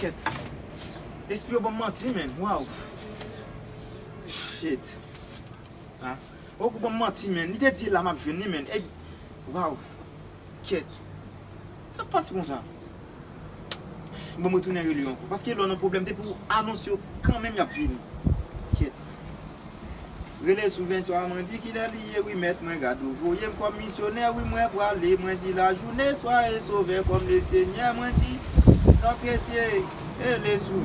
Kèt. Espri yo banm manti menn. Waw. Shit. Ha. Ou banm manti menn. Li te di la map jwenn li menn. Waw. Kèt. Sak pase konsa. Bon mwen tounen rele yo ankò. Paske lè w nan pwoblèm depi w anonse yo kanmenm y ap vini. Kyèt. Rele sou 23 mwen di kilè li ye wi mèt mwen gad ou voye m kòm misyonè wi mwen prale mwen di lajoune soyez sauveur comme le seigneur mwen di tanpetye rele sou.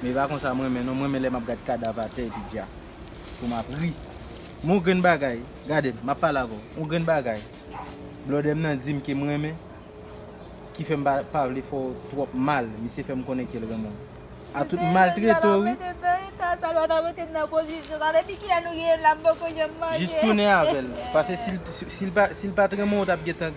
Men e pa konsa m renmen non, m renmen lè m ap gad kadav atè epi dja pou m ap ri. Men yon grenn bagay, gade m, m ap pale avè w, yon grenn bagay blòdè m nan di m ke m renmen ki fè m pa pa vle fè w twòp mal, misye fè m konnen ke l renmen w. A tout m maltrete w wi. Mete nan eta sa, nou pa ta mete m nan pozisyon sa. Depi kilè nou rive la m poko janm manje. Jis tounen avè l. Paske si l pa, si l pa t renmen w ou t ap gentan.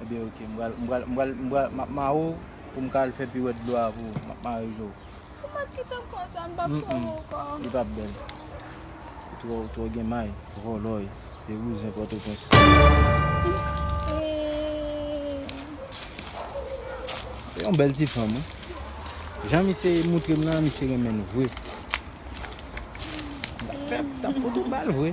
Ebyen ok m pral m pral m pral m pral map mare w pou m ka al fè piwèt dlo a pou ou map mare je w. Ou mèt kitem konsa m pap sove w anko. Mph li pap bèl ou tro ou tro gen may. Vòlòy e bouzen pòtoprens. Se yon bèl ti fanm wi. Jan misye moutre m nan misye renmen l vre. Mtap fè mtap fout ou bal vre.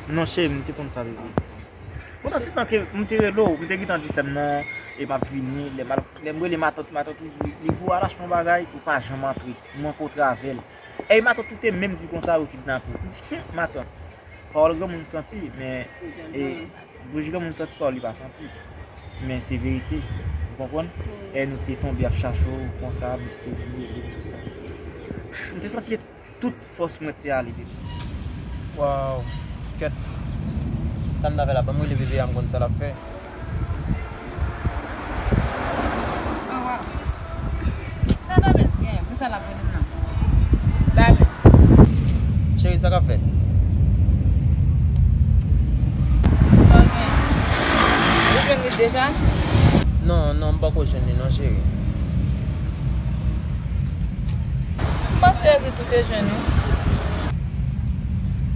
Non cheri m te konn sa bebe. Pandan se tan ke m te rele w, m te gentan di sè m non e m ap vini. Lè m rele matant, matant toujou li di w al achte yon bagay, ou pa janm antre. M manke w travèl. Ey matant ou te menm di kon sa yo kidnape w. M di humm matant, pawòl granmoun santi men e bouch granmoun santi pawòl li pa santi. Men se verite. Ou konprann? Ey nou te tonbe ap chache w kon sa, misye te vini ede m tou sa. M te santi. tout fòs mwen te ale depi. Waww kèt Sam ta fè la banm rele bébé a m konn sa lap fè. Chérie sa kap fèt. Ou jwenn li deja? Non non m poko jwenn li non chérie. M panse evit ou te jwenn wi.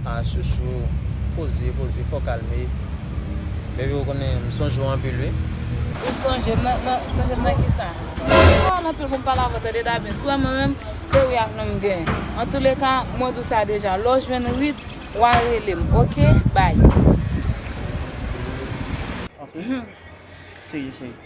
Ah chouchou poze poze fò kalme baby ou konnen m sonje w anpil wi. Ou sonje m nan sonje m nan kisa. M sonje w an anpil konn pale avè w tande Davin's wè mwen menm se wi ak non m gen antoulèka mwen di w sa deja lè w jwenn rit wa rele m ok bye. Ok chérie chérie.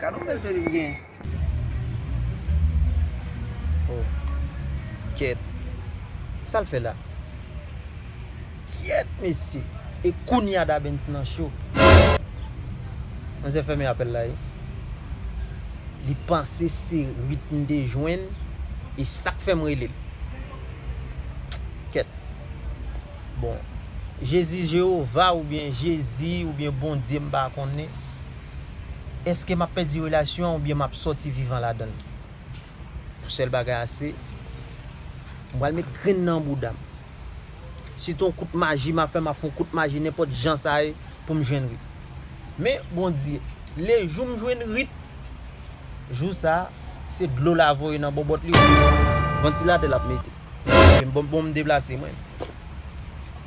Gade yon bèl tèt li gen. Oh kyèt sal fè la. Kyèt mesye e kounya Dabens nan cho. Manzè fèmen apèl la wi. Li panse se Rit m te jwenn e sak fèm rele l. Kyèt. Bon Jezi Jewova oubyen Jezi oubyen Bondye m pa konnen. Eske map pèdi relasyon an oubyen map sòti vivan ladanl? Yon sèl bagay ase, m pral met grenn nan bouda m. Si t yon kout maji map fè map fon kout maji nenpòt jan sa ye poum jwenn Rit. Men Bondye, le jou m jwenn Rit, jou sa se dlo la voye nan bòbòt li oubyen vantilatè lap mete. Oubyen bon m deplase mwen.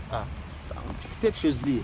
Ah sa yon pèp choz li ye.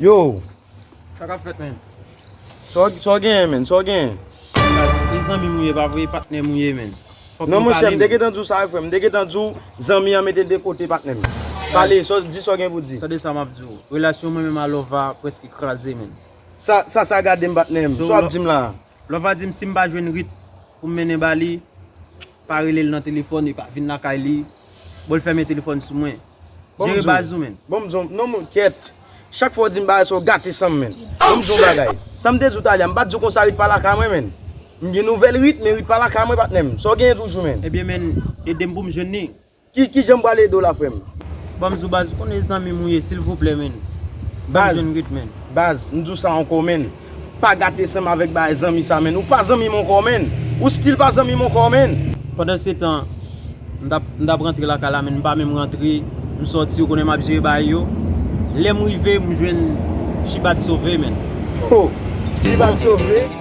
Yow! Sa kap fèt menn? Sa w genyen menn? Sa w genyen? E zanmi m ou ye pa vre e patnè m ou ye menn? Fòk nou pale menn. Non monchè m te gentan di w sa wi frè m. M te gentan di w zanmi an mete de kote patnè m. Pale, di sa w gen pou di. Tande sa m ap di w. Relasyon mwen menm a Lova prèske kraze menn. Sa sa gade m patnè m? Sa w ap di m la a? Lova di m si m pa jwenn Rit pou m mennen ba li. Pa rele l nan telefòn epa vin lakay li Bon l fèmen telefòn sou mwen Jere baz ou menn. Bon m di w non m kyèt Chak fwa w di m bagay sa w gate san m menn Bon m di w yon bagay Sa m te di w talè a m pa t di w konsa Rit pa lakay mwen menn M gen nouvèl Rit men Rit pa lakay mwen patnè m Sa w genyen toujou menn. Ebyen menn ede m pou m jwenn li Kijan m pral ede w la frè m? Banm di w baz, ou konnen zanmi m ou ye silvouplè menn. Banm jwenn ret menn. Baz, m di w sa ankò menn. Pa gate san m avèk bagay zanmi sa menn. Ou pa zanmi m ankò menn. Ou stil pa zanmi m ankò menn. Pandansetan, m tap, m tap rantre lakay la menn. M pa menm rantre, m sòti, ou konnen m ap jere bagay yo. Lè m rive, m jwenn Chibad sove menn. Ho! Chibad sove?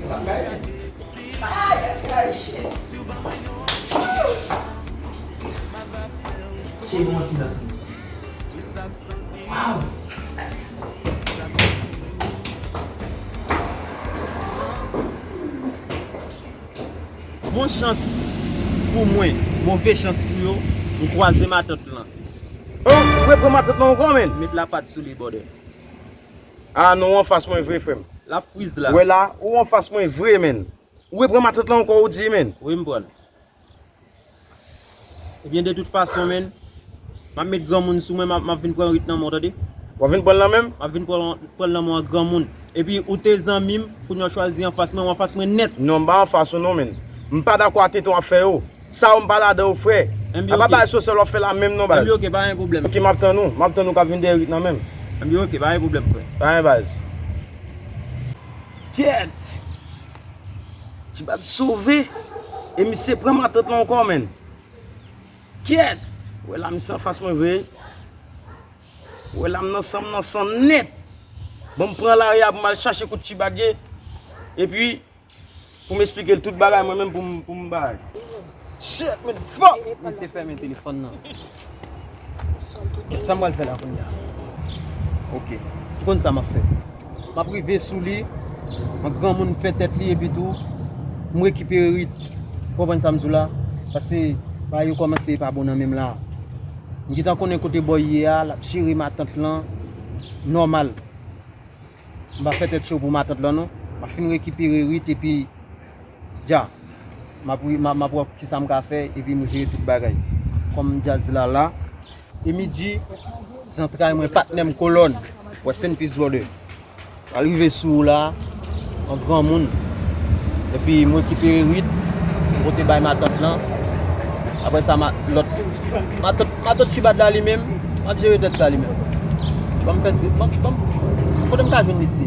Yo pap bay menm. Ay ay ay shit. Woo. Che bon ti dans moun. Waww. Bon chans pou mwen, move chans pou yo, m kwaze matant lan. Ou repran matant lan ankò menn? Met lapat sou li bòdè. Ah non ou anfas mwen vre frem. Lap frizz la. Wè la ou anfas mwen vre menn. Ou repran matant lan anko ou di menn. Wi m pranl. Ebyen de tout fason menn. Map met granmoun sou mwen map vin pran rit nan menw tande. Wap vin pranl nan menm? Map vin pranl nan menw an granmoun. Epi ou te zanmim kounya w chwazi anfas mwen ou anfas mwen nèt. Non m pa anfas ou non menn. M pa dakò a tenten wap fè yo. Sa ou m pa ladan ou frè. A pa bay sosèl wap fè la menm non baz. Ok map tann ou. Map tann ou kap vin dèyè Ritna menm. Ok pa gen pwoblèm frè. Pa gen baz. Kèt! Tibaz sove. E misye pran matant lan ankò menn. Kèt! Ou wè la misye anfas mwen vre. Ou wè la m nan san m nan san nèt. Bon m pran lari a pou m al chache kote Tibag ye. Epi. Poum esplikel tout bagay mwen menm poum poum bay. Shit men fuck. Misye fèmen telefòn nan. Kèt sam pral fè la kounya. Ok. Ou konn sa map fè. Map rive sou li. An granmoun m fè tèt li epi tou m rekipere rit. Ou konprann sam di w la. Pase bagay yo kòmanse pa bon nan menm la. M gentan konnen kote boy ye a lap jere matant lan nòmal. M pa fè tèt cho pou matant lan non. M ap fin rekipere Rit epi Dja. M ap m ap wè kisa m ka fè epi m jere tout bagay. Kòm djaz la la. Emidji, zantray mwen, patnè m, kolòn. Rest in peace brother. M pral rive sou ou la an granmoun. Epi m rekipere Rit m pote bay matant lan. Aprè sa ma lòt matant Matant Chibad la li menm ap jere tèt sa li menm. Banm fè ti banm banm kote m ka jwenn li si.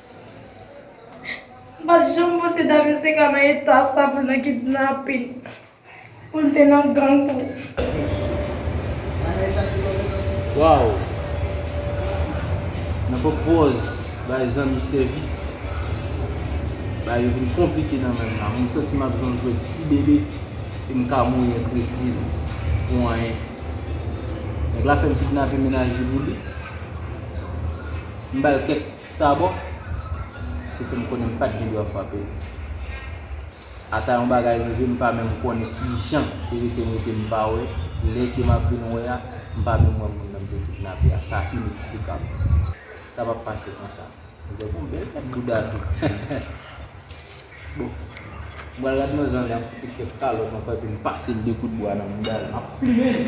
M pa t janm panse Dave te ka nan eta sa pou l nan kidnapin, pou l te nan gang tou. Waww nan pran pòz bay zanmi sèvis bagay yo vin konplike nan menm la mwen santi map jwenn jwèt ti bebe e m ka mouri an kredi l pou anyen nèg la fèm kidnape mennaj li pou li m bal kèk Sa bon? Se fè m konnen m pa t gen dwa frape l. Ata yon bagay rive m pa menm konnen kijan se rete m rete m pa wè, lè ke m ap vin wè a, m pa menm wè moun nan m te kidnape a. Sa ineksplikab. Sa p ap pase konsa. Mizè gon bèl pèt bouda tou. Bon, m pral gad manzè an lè ap fout li kèk kalòt nan kò epi m pase l de kout bwa nan bouda l. M ap plimen l!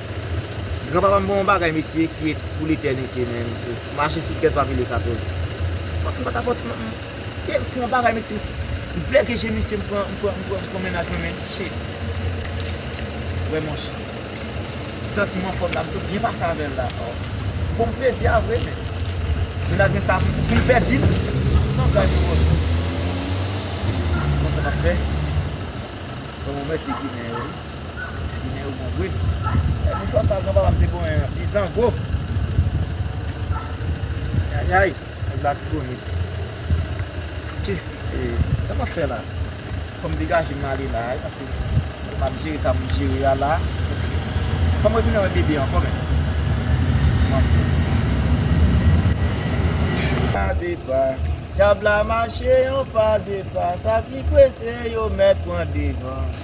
Gran papa m gen yon bagay mesye ki et pou letènite men mesye mache sou kès pa pile 14. Fòs m pa ta fòs m se m fon bagay mesye m flège je misye m pran m pran m pran m pran mennaj mwen men shit wè monche m santi m anfòm la m sot byen pase avèl la oh m fon plezi a vre men mennaj mwen sa pou m pèdi l sou m san kay pou ou m konn sa m ap fè fò m remèsye ginen yo wi. Ginen yo bon vre. Lè nou fè sa gran papa m te konyen an. Bizango. Ayayay. Nèg latibonit. Ti. E sa map fè la. Fò m degaje m ale la. Pase map jere sa pou m jere a la. Ok. Fò m retounen wè bebe ankò menm. Mesi m anfin. Yon pa de pa. Dyab la mache yon pa de pa. Sa ki prese yo mèt pran devan.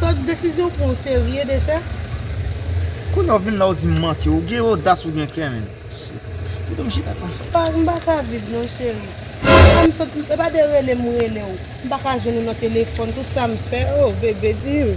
Sot desizyon ou pran ou serye de sa? Koulè w vin la ou di m manke ou gen odas ou gen kè menn shit pito m chita konsa. Pa m pa ka viv non cheri. Epa m sot epa de rele m rele w m pa ka jwenn ou nan telefòn tout sa m fè oh bebe di m.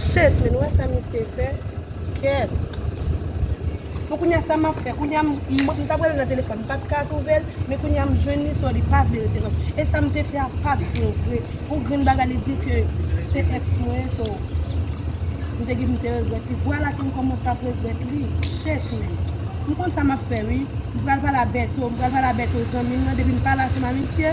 Shit men nou wè sa misye fè kèm. Bon kounya sa map fè kounya m tap rele nan telefòn m pat ka twouvel men kounya m jwenn li so li pa vle rete non e sam te fè a pat bon vre pou grenn bagay li di ke se ex mwen so m te gin m te regrèt li vwala ke m kòmanse ap regrèt li shit men m konn sa map fè wi m pral pale a Bertho m pral pale a Bertho zanmim nan depi m pale a se ma misye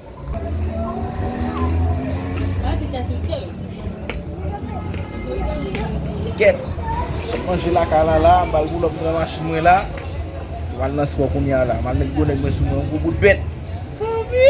Kèt! Sot manje lakay la la, m pral poul òp pran machin mwen la. M pral nan spò kounye a la. M pral met gwo nèg mwen sou mwen yon gwo bout bèt. Sanvi!